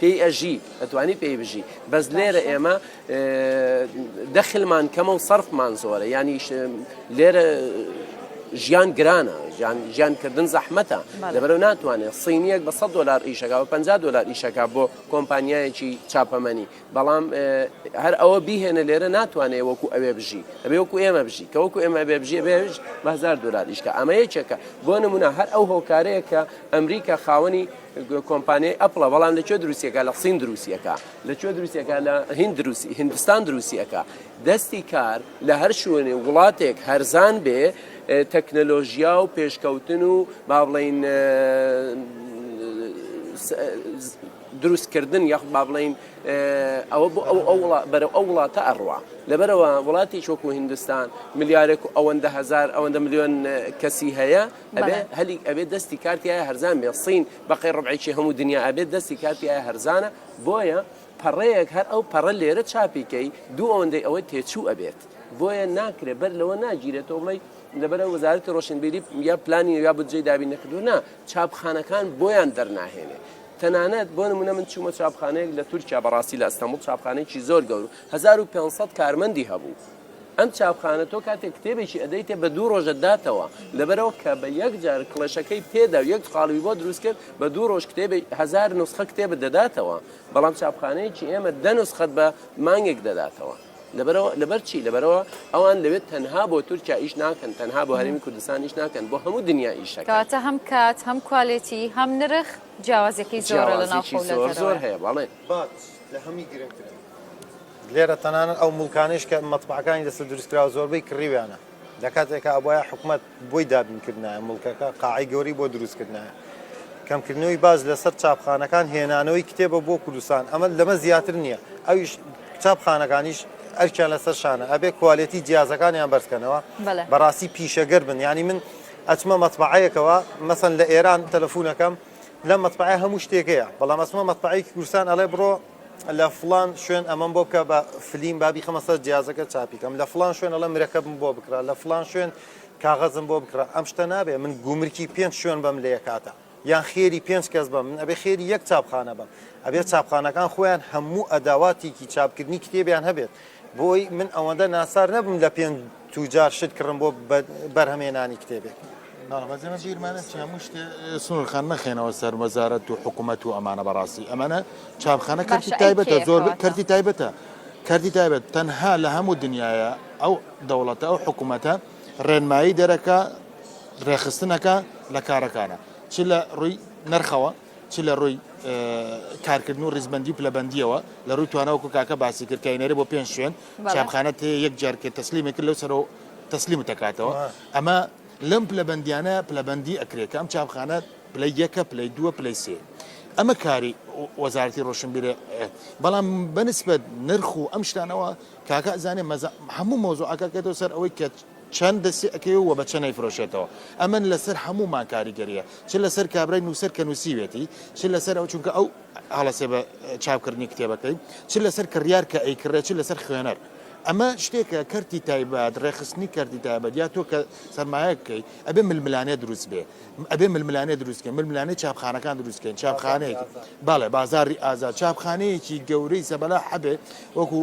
پێی ئەژی ئەتوانی پێی بژی بەس لێرە ئێمە دەخلمان کەمە و سەرفمان زۆرە ینی لێرە ژیان گرانە ژیانکردن زەحمەتە لەبەرە ناتوانێت سینیەک بە 100 دلار ئیشەکە و 50 دلار ئیشەکە بۆ کۆمپانیایەکی چاپەمەنی بەڵام هەر ئەوە بیهێنە لێرە ناتوانێت وەکو ئەوێ بژی ئەبێ وەکو ئێمە بژی کە وەکو ئێمە بێ بژێ بێژ بەهزار دلار ئیشکە ئەمە یەکێکە بۆ نمونە هەر ئەو هۆکارەیە کە ئەمریکا خاوەنی کۆمپانیای ئەپڵە بەڵام لە کوێ دروستیەکە لە سین دروستیەکە لە کوێ دروستیەکە لە هند دروستی هندستان دروستیەکە دەستی کار لە هەر شوێنێ وڵاتێک هەرزان بێ تەکنەلۆژیا و پێشکەوتن و با بڵین دروستکردن یاخ با بڵین ئەوە بۆ ئەو ئەو بەرە ئەو وڵاتە ئەڕوا لەبەرەوە وڵاتی چۆکو هندستان ملیارێک و ئەوەندە هزار ئەوەندە میلیۆن کەسی هەیە ئەبێ هەلی ئەبێ دەستی کارتیایە هەرزان بێ سین بەقی ڕبعێکی هەموو دنیا ئەبێت دەستی کارتیایە هەرزانە بۆیە پەڕەیەک هەر ئەو پەڕە لێرە چاپیکەی دوو ئەوەندەی ئەوەی تێچوو ئەبێت بۆیە ناکرێت بەر لەوە ناگیرێتەوە بڵی لەبەرە وەزارەتی ڕۆشنبیری یا پلانی یا بجێ دابی نەکردو نا چاپخانەکان بۆیان دەرناهێنێ تەنانەت بۆ نمونە من چوومە چاپخانەیەک لە تورکیا بەڕاستی لە ئەستەمبول چاپخانێکی زۆر گەور 1500 کارمەندی هەبوو ئەم چاپخانە تۆ کاتێک کتێبێکی ئەدەیتێ بە دوو ڕۆژە داتەوە لەبەرەوە کە بە یەک جار کڵێشەکەی پێدا و یەک خاڵوی بۆ دروست کرد بە دوو ڕۆژ کتێبی هزار نسخە کتێبە دەداتەوە بەڵام چاپخانەیەکی ئێمە دە نسخەت بە مانگێک دەداتەوە لەبەرەوە لەبەر چی لەبەرەوە ئەوان لەوێت تەنها بۆ تورکیا ئیش ناکەن تەنها بۆ هەرمی کوردستان ئیش ناکەن بۆ هەموو دنیا ئیشەکەتە هەم کات هەم کوالێتی هەم نرخ جیاوازەکەی زۆر لە ناو زۆر هەیە بەڵێ لە هەمی گرنگترە لێرە تەنانەت ئەو موڵکانەیش کە مەتبەعەکانی لەسەر دروستکراوە زۆربەی کڕیویانە، لە کاتێکا ئەبوایە حکومەت بۆی دابینکردنایە موڵکەکە، قاعەی گەورەی بۆ دروستکردنایە. کەمکردنەوەی باج لەسەر چاپخانەکان، هێنانەوەی کتێبە بۆ کوردستان، ئەمە لەمە زیاتر نییە، ئەویش چاپخانەکانیش ئەرکیان لەسەر شانە، ئەبێ کوالێتی جیازەکانیان بەرزکەنەوە، بەڕاستی پیشەگەر بن، یانی من ئەچمە مەتبەعەیەکەوە، مەسەن لە ئێران تەلەفونەکەم لەم مەتبەعەیە هەموو شتێک هەیە، بەڵام ئەچمە مەتبەعەیەکی کوردستان ئەڵێ بڕۆ، لە فڵان شوێن ئەمەم بۆ بکە بە فلیم بابی خەمە سەر جیازەکە چاپیکەم لە فلان شوێن ئەڵە مرەکەبم بۆ بکرا لە فلان شوێن کاغەزم بۆ بکرا ئەم شتە نابێ من گومرکی پێنج شوێن بەم لە یەکاتە یان خێری پێنج کەس بە من ئەبێ خێری یەک چاپخانە بم ئەبێ چاپخانەکان خۆیان هەموو ئەداواتێکی چاپکردنی کتێبیان هەبێت بۆی من ئەوەندە ناسار نەبم لە پێنج توجار شت کڕن بۆ بەرهەمێنانی کتێبێک. بەڵێ بەس ئێمە بیرمان ئەچێ هەموو شتێ سنور خان مەخەینەوە سەر وەزارەت و حکومەت و ئەمانە بەڕاستی ئەمانە چاپخانە کەرتی باشە ئەی تایبەتە کێیە زۆر کەواتە کەرتی تایبەتە کەرتی تایبەت تەنها لە هەموو دنیاە ئەو دەوڵەتە ئەو حکومەتە ڕێنمایی دەرەکە ڕێخستنەکە لە کارەکانە چ لە ڕووی نرخەوە چ لە ڕووی اه، کارکردن و ڕیزبەندی و پلەبەندیەوە لە ڕووی توانەوەکو کاکە باسی کرد کە ئەینێرێ بۆ پێنج شوێن چاپخانە تێ یەک جار کرد تەسلیمە کرد لەو سەرەوە تەسلیمت دەکاتەوە ئەمە لەم پلەبندیانە پلەبندی ئەکرێت کە ئەم چاپخانە پلەی یەکە پلەی دووە پلەی سێ ئەمە کاری وەزارتی ڕۆشنبیرە بەڵام بەنسبەت نرخ و ئەم شتانەوە کاکە زانێ مەزە هەموو مۆزۆعەکەکەێتەوە سەر ئەوەی کە چەند دەستی ئەەکەی و بە چەنەی فرۆشێتەوە ئەمن لەسەر هەموو ماکاریگەریە چ لەسەر کابرای نووسەر کە نووسیوێتی چ لەسەر ئەو چونکە ئەو هەڵەسێ بە چاپ کردنی کتێبەکەی چ لەسەر کڕیار کە ئەیکڕێ چ لەسەر خوێنەر ئەمە شتێکە کەرتی تایبەت ڕێخستنی کەرتی تایبەت یا تۆ کە سەرمایە بکەیت ئەبێ ململانێ دروست بێ ئەبێ ململانێ دروستکە ململانەی چاپخانەکان دروستکەین چاپخانەیەک باڵێ بازاری ئازاد چاپخانەیەکی گەورەی زەبەلا حەبێ وەکو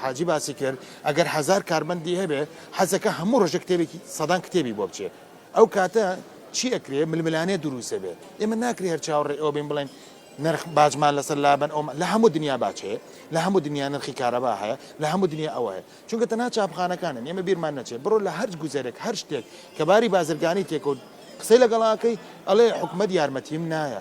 حاجی باسی کرد ئەگەر هزار کارمەندی هەبێ حەزەکە هەموو ڕژە کتێبێکی سەدان کتێبی بۆ بچێت ئەو کاتە چی ئەکرێ ململانێ دروست ئەبێ ئێمە ناکرێ هەر چاوەڕێ ئەوە بین بڵێن نرخ باجمان لەسەر لابەن ئەو لە هەموو دنیا باچەیە لە هەموو دنیا نرخی کارەبا هەیە لە هەموو دنیا ئەوە هەیە چونکە تەنها چاپخانەکانن ئێمە بیرمان نەچێت بڕۆ لە هەرج گوزارێک هەر شتێک کە باری بازرگانی تێکەوت قسەی لەگەڵاکەی ئەڵێ حکومت یارمەتیم نایە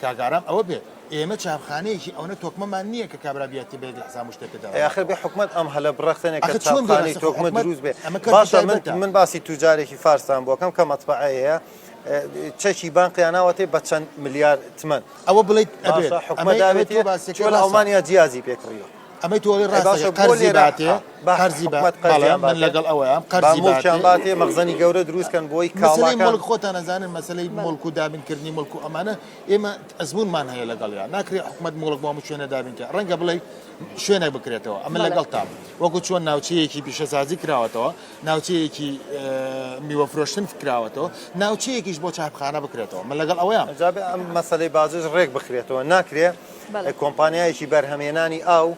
کاک ئارام ئەوە بێت ئێمە چاپخانەیەکی ئەونە تۆکمەمان نیە کە کابرا بیات تێ بگەی لەحساب و شتێکت دەرەخاتەوە. ئەی ئاخر بێ حوکمەت ئەم هەلە بڕەخسێنێ کە چاپخانەی تۆکمە دروست بێ باشە من من باسی توجارێکی فارستان بۆکەم کە مەتبەعەیەیە چەکی بانقیان ناوەتێ بە چەند ملیار تمەن ئەوە بڵیت ئەبێت ئەمە داوێت چۆن ئەڵمانیا جیازی پێکڕیوە. ئەمەی تۆ ئەڵێی ڕاستە کە قەرزی باتێ، قەرزی بە حکومەت قەرزیان باتێ، بەڵێ من لەگەڵ ئەوەیام، قەرزی باتێ، با موڵکیان باتێ، مەخزەنی گەورە دروست کەن بۆی کاڵاکان، مەسەلەی موڵک خۆتان ئەزانن مەسەلەی موڵک و دابین کردنی موڵک و ئەمانە ئێمە ئەزموونمان هەیە لەگەڵیان، ناکرێ حکومەت موڵک بۆ هەموو شوێنێ دابین کات، ڕەنگە بڵێی شوێنێک بکرێتەوە، ئەمن لەگەڵتام، وەکو چۆن ناوچەیەکی پیشەسازی کراوەتەوە، ناوچەیەکی میوە فرۆشتن کراوەتەوە، ناوچەیەکیش بۆ چاپخانە بکرێتەوە، من لەگەڵ ئەوەیام. جا بێ ئەم مەسەلەی باجەش ڕێک بخرێتەوە، ناکرێ. کۆمپانیایەکی بەرهەمهێنانی ئاو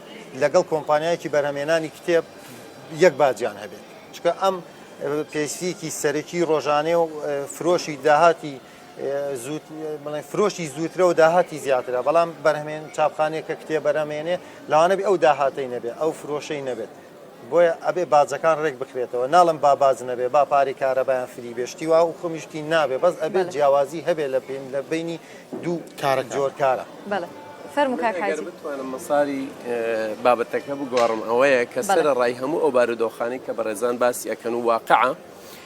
لەگەڵ کۆمپانیایەکی بەرهەمهێنانی کتێب یەک باجیان هەبێت چکە ئەم پێویستیەکی سەرەکی ڕۆژانێ و فرۆشی داهاتی بڵێ فرۆشی زووترە و داهاتی زیاترە بەڵام بەرهمێن چاپخانێک کە کتێ بەرەمێنێ لاوانەبی ئەو داهاتەی نەبێت ئەو فرۆشەی نەبێت بۆیە ئەبێ باجەکان رێک بخرێتەوە ناڵێم با باج نەبێ با پارەی کارەبایان فری بێ شتی وا و خۆمی شتی نابێ بەس ئەبێ بەڵێ جیاوازی هەبێ لە بین لە بینی دوو کارە کان. جۆر کارە. بەڵێ فەرموو من کاک ئەگەر حاجی. بتوانم مەساری بابەتەکە بگۆڕم ئەوەیە کە بەڵێ. سەرەڕای هەموو ئەو بارودۆخانەی کە بەڕێزان باسی ئەکەن و واقعە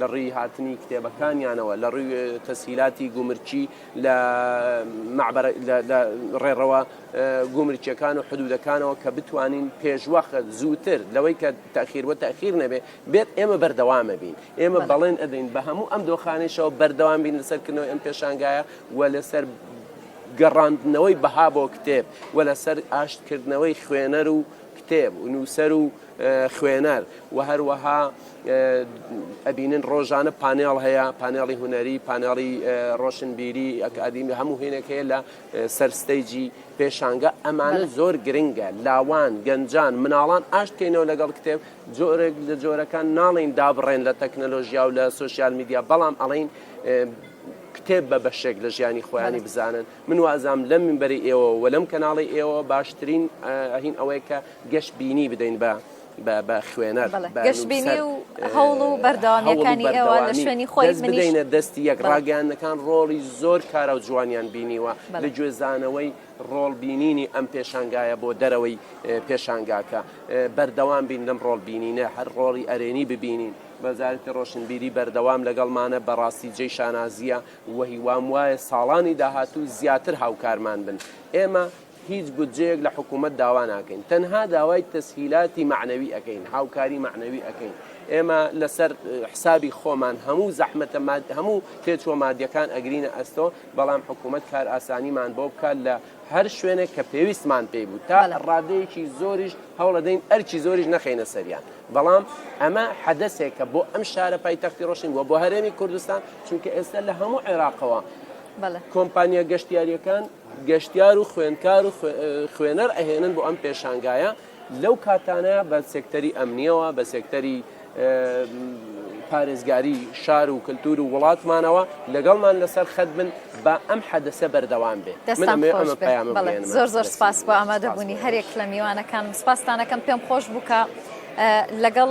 لە ڕووی هاتنی کتێبەکانیانەوە، لە ڕووی تەسهیلاتی گومرکی لە ڕێڕەوە گومرکیەکان و حدودەکانەوە کە بتوانین پێشوەخت زووتر لەوەی کە تاخیر و تاخیر نەبێ بێت ئێمە بەردەوامە بین ئێمە بەڵێن ئەدەین بە هەموو ئەم دۆخانەیشەوە بەردەوام بین لەسەر کردنەوەی ئەم پێشانگایە و لەسەر گەڕاندنەوەی بەها بۆ کتێب و لەسەر ئاشتکردنەوەی خوێنەر و کتێب و نووسەر و خوێنەر و هەروەها ئەبینن ڕۆژانە پانێڵ هەیە پانێڵی هونەری پانێڵی ڕۆشنبیری ئەکادیمی هەموو هێنێک هەیە لە سەرستەیجی پێشانگە ئەمانە زۆر گرنگە لاوان گەنجان مناڵان ئاشتکەینەوە لەگەڵ کتێب جۆرێک لە جۆرەکان ناڵین دابڕێن لە تەکنەلۆژیا و لە سوسیال میدیا بەڵام ئەڵین کتێب بە بەشێک لە ژیانی خۆیانی بزانن من وازام لەم منبەری ئێوە و لەم کەناڵی ئێوە باشترین هین ئەوەیە کە گەش بینی بدەین بە بە خوێنەر بەڵێ، بە گەشبینی نووسەر، و ئه، هەوڵ و بەردەوامییەکانی هەوڵ و ئێوە لە بەردەوامی. شوێنی خۆی، دەست منیش. بدەینە دەستی یەک. بەڵێ. ڕاگەیاندنەکان ڕۆڵی زۆر کارا و جوانیان بینیوە بەڵێ. لە گوێزانەوەی ڕۆڵ بینینی ئەم پێشانگایە بۆ دەرەوەی پێشانگاکە. بەردەوام بین لەم ڕۆڵ بینینە، هەر ڕۆڵی ئەرێنی ببینین. وەزارەتی ڕۆشنبیری بەردەوام لەگەڵمانە، بەڕاستی جێی شانازییە و هیوام وایە ساڵانی داهاتوو زیاتر هاوکارمان بن. ئێمە هیچ بودجەیەک لە حکوومەت داوا ناکەین، تەنها داوای تەسهیلاتی مەعنەوی ئەکەین، هاوکاری مەعنەوی ئەکەین، ئێمە لەسەر حسابی خۆمان هەموو زەحمەتە ماد هەموو تێچووە مادیەکان ئەگرینە ئەستۆ، بەڵام حکوومەت کارئاسانیمان بۆ بکات لە هەر شوێنێک کە پێویستمان پێی بوو، تا ڕادەیەکی زۆریش هەوڵەدەین ئەرکی زۆریش نەخەینە سەریان، بەڵام ئەمە حەدەسێکە بۆ ئەم شارە پایتەختی ڕۆشنین و بۆ هەرێمی کوردستان، چونکە ئێستا لە هەموو عێراقەوە کۆمپانیا گەشتیارییەکان. گەشتیار و خوێندکار و خوێنەر ئەهێنن بۆ ئەم پێشانگایە لەو کاتانە بە سێکتەری ئەمنیەوە بە سێکتەری پارێزگاری شار و کللتور و وڵاتمانەوە لەگەڵمان لەسەر خەت بن با ئەم حەدەسە بەردەوام بێت زۆر زۆر سپاس بۆ ئامادەبوونی هەرێک لە میوانەکان سپاستانەکەم پێم خۆش بووکە لەگەڵ